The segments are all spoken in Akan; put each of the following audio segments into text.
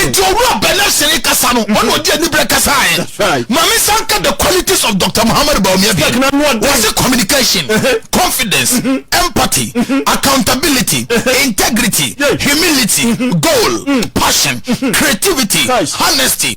nti owura bɛnɛ sini kasa no ɔna ɔdi anibere kasa yɛ maame san ka the qualities of dr muhammad bawumia bi wɔsi communication uh-huh. confidence mm-hmm. empathy mm-hmm. accountability uh-huh. integrity humility mm-hmm. goal passion creativity honesty.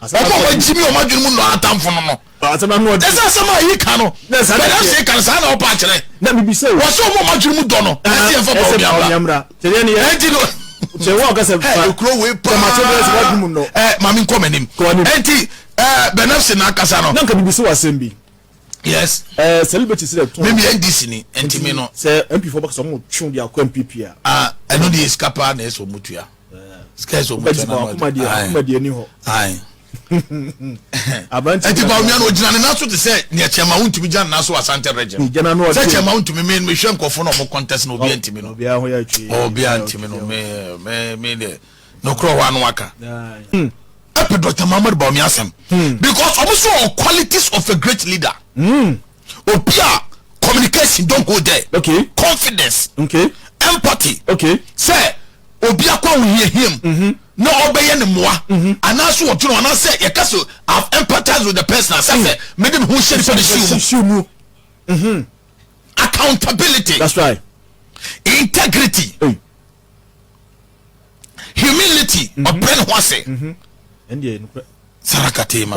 Wɔn a wɔagye me wɔn adwene mu nnɔ atamfo no no. Kyɛ sɛ asɛm a yeka no, bɛda so yeka no, saa na wɔpa akyerɛ. Wɔ sɛ wɔn a wɔn adwene mu dɔ no, ɛsɛ yɛmfa Baal nnuambra. Enti no. Kyɛ wɔn ka sɛ. Ɛɛ kuro wei paa. Ɛɛ maame nkɔ m'anim. Enti ɛɛ bɛnafsi na akasa no. Na nka bibi so asɛm bi. Yes. Ɛɛ celebrity si dɛ tɔn. Mimi NDC ni enti mi no. Sɛ MP fo bɛka sɛ wɔn twɛn di akɔ MPP a. Ah ɛno de esika paa na ɛsɛ wɔn tua. skɛs omu kyɛ na ma ɔdi ayi ɛti ba onua no ogyina ne nan so te sɛ nea kyɛnma wo ntumi gyina ne nan so asante regye sɛ kyɛnma wo ntumi mi mi hwɛ nkɔfo na ɔmo kɔntɛs na obiara ntumi no obiara ntumi no mi mi mi deɛ n'okura hɔ ano aka ɛpɛ dɔkita muhammadu baomi asɛm because ɔmo sɛ ɔ qualities of a great leader. Mm. Obi a communication don't go there. Okay. Confidence. Okay. Empathy. Okay. Sɛ obi akɔ ahohiahia mu. Mm-hmm. na ɔbɛyɛ ne mmoa mm-hmm. anaasɛ ɔdwene anaasɛ yɛka sɛ i've empathized with the person asɛ sɛ mm. mede me ho hyɛ nipa ne siw mu mm-hmm. accountability that's right integrity hey. humility ɔbrɛ ne ho ase sarakatema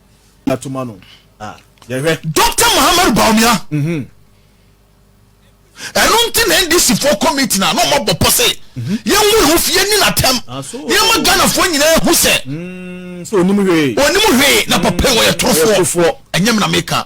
atoma no a yɛhwɛ. Doctor Muhammadu Bawumia. Mhm. Ɛno nti na NDC foɔ kɔ meeting a na ɔmo abɔ pɔ sɛ mhm. yɛnwuri ho fi yɛni n'atɛm ah, yɛma Ghanafoɔ nyinaa ehu sɛ mm, onim hwee onim hwee na papa wɔyɛ torofoɔ ɛnyɛ mi na meka.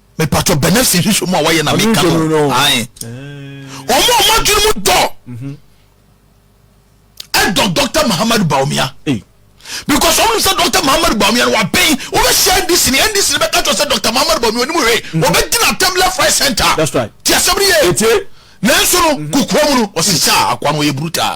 mepatɔ bɛnɛfs nhwehwɛ mu a wɔyɛ na meka no ae ɔmo ɔmo adwene mu dɔ mhm. ɛdɔ dr mahamadu baomia because ɔmo sɛ dr mahamadu baomia no wabɛn wobɛhyia ndc ne ndc ne bɛka kyerɛ sɛ dr mahamadu baomia onimu hwee mhm. ɔbɛgyina atam left right center ti asɛm no yɛ nanso no mhm. kokoa mu no ɔsesa akoa no ɔyɛ brutal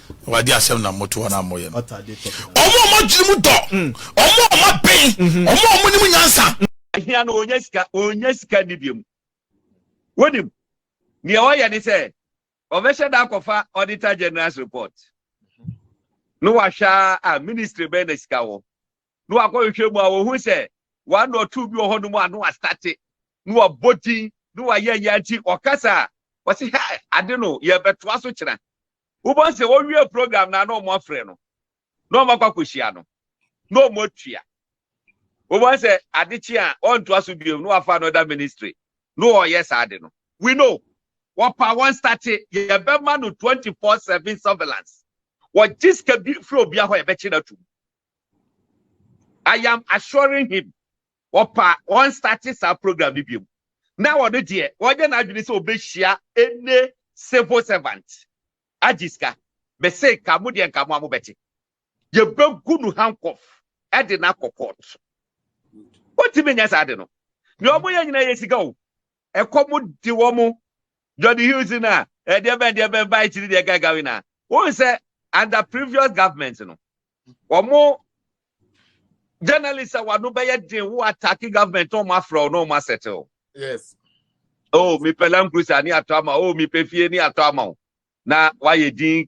Awurade asɛm na moto wɔn a moyɛ no, wɔn a wɔadwene mu dɔ, wɔn a wɔaben, wɔn a wɔnim nyansa. Hia no ɔnya sika, ɔnya sika nni biam. Wonim, nea ɔyɛ ne sɛ, ɔbɛhyɛ da akɔfa Auditor General's report. No wahwɛ a ministry bɛn na sika wɔ. No wakɔhwehwɛ mu a wɔhu sɛ one or two bi wɔ hɔ nom a no astate, no wabɔ din, no wayɛ yɛ nti ɔkasa a, wɔse, hɛ, ade no yɛbɛtoa so kyena. Wobɛhu sɛ wɔwie program no a na wɔafrɛ no na wɔakɔ akɔhyia no na wɔatua. Wobɛhu sɛ ade kye a ɔntoa so bio na wafa another ministry na ɔyɛ saa de no. We know. Wɔpa wɔn state yɛbɛma no 24/7 surveillance. Wɔgye sika bi firi obiara hɔ a yɛbɛkye no atom. I am assuring him. Wɔpa wɔn starte saa program no biom na ɔno deɛ ɔnyɛ n'adwene sɛ ɔbɛhyia any civil servant agye sika. Me se nka mo deɛ nka mo a mo bɛte. Yɛbɛgu no handcuff de no akɔ court. Wɔntumi nyɛ saa ade no. Deɛ wɔn yɛ nyinaa yɛ sika o. Ɛkɔm de wɔn. Johnny Hughes na ɛdeɛ bɛn deɛ bɛn baa akyiri deɛ gagawe na. Wɔn sɛ under previous government no wɔn journalist a wano bɛyɛ den wo attack government wɔn afrɛ wo na wɔn asɛte o. yes. oh mepɛ land cruiser ne atɔ ama oh mepɛ fie ne atɔ ama o na wayɛ din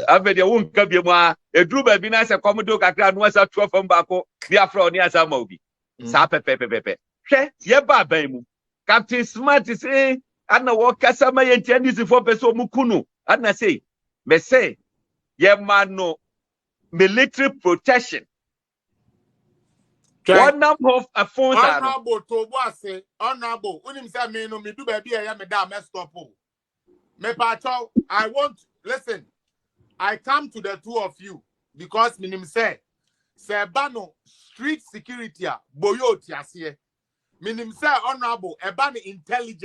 afei deɛ wonka bi mu a eduru baabi na sɛ kɔm de kakra no asa tuo fam baako ne afrɛ wo ne asa ama obi. saa pɛpɛpɛpɛpɛ hwɛ yɛ ba aban mu captain smart se ana wɔkasa ma yɛ ntia ndisifoɔ pɛ sɛ ɔmo ku no ana sei mɛsɛ yɛma no military protection wɔnam hɔ afon saa no honorable to bo ase honorable wonim sɛ me no medu baabi a ɛyɛ me da a mɛstɔpo Me pacho, I want listen. I come to the two of you because minim say say ba no street security a boyo tiaseɛ. Minim say honorable ɛba no intelligent.